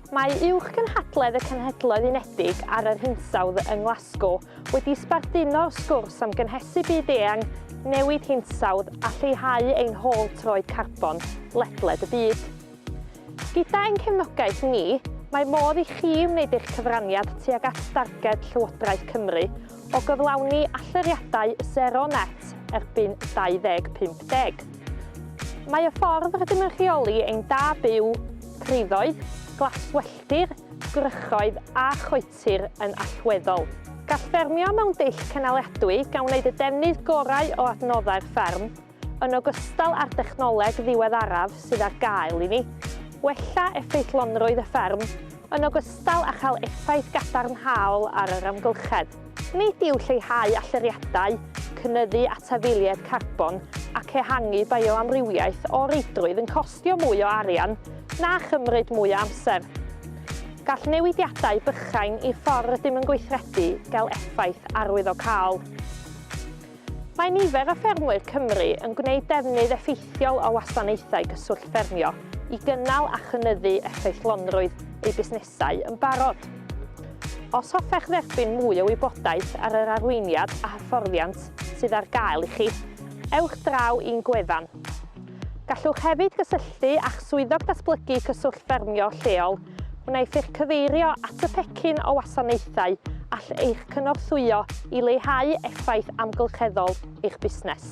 Mae Uwch Gynhadledd y Cenhedloedd Unedig ar yr Hinsawdd yng Nglasgo wedi sbarduno sgwrs am gynhesu byd eang, newid hinsawdd a lleihau ein hôl troed carbon ledled y byd. Gyda ein cefnogaeth ni, mae modd i chi wneud eich cyfraniad tuag at darged Llywodraeth Cymru o gyflawni allyriadau sero net erbyn 2050. Mae y ffordd rydym yn rheoli ein da byw, priddoedd, glaswelltir, gwrychoedd a choetir yn allweddol. Gall ffermio mewn dull cynaliadwy gan wneud y defnydd gorau o adnoddau'r fferm, yn ogystal â'r dechnoleg ddiweddaraf sydd ar gael i ni, wella effeithlonrwydd y fferm, yn ogystal â chael effaith gadarnhaol ar yr amgylchedd. Nid yw lleihau allyriadau, cynyddu atafiliaid carbon ac ehangu bioamrywiaeth o reidrwydd yn costio mwy o arian na chymryd mwy o amser. Gall newidiadau bychain i'r ffordd rydym yn gweithredu gael effaith arwyddocaol. Mae nifer o ffermwyr Cymru yn gwneud defnydd effeithiol o wasanaethau cyswllt ffermio i gynnal a chynyddu effeithlonrwydd eu busnesau yn barod. Os hoffech dderbyn mwy o wybodaeth ar yr arweiniad a hyfforddiant sydd ar gael i chi, ewch draw i'n gwefan. Gallwch hefyd gysylltu â'ch Swyddog Datblygu Cyswllt Ffermio lleol Wnaeth eich cyfeirio at y pecyn o wasanaethau all eich cynorthwyo i leihau effaith amgylcheddol eich busnes.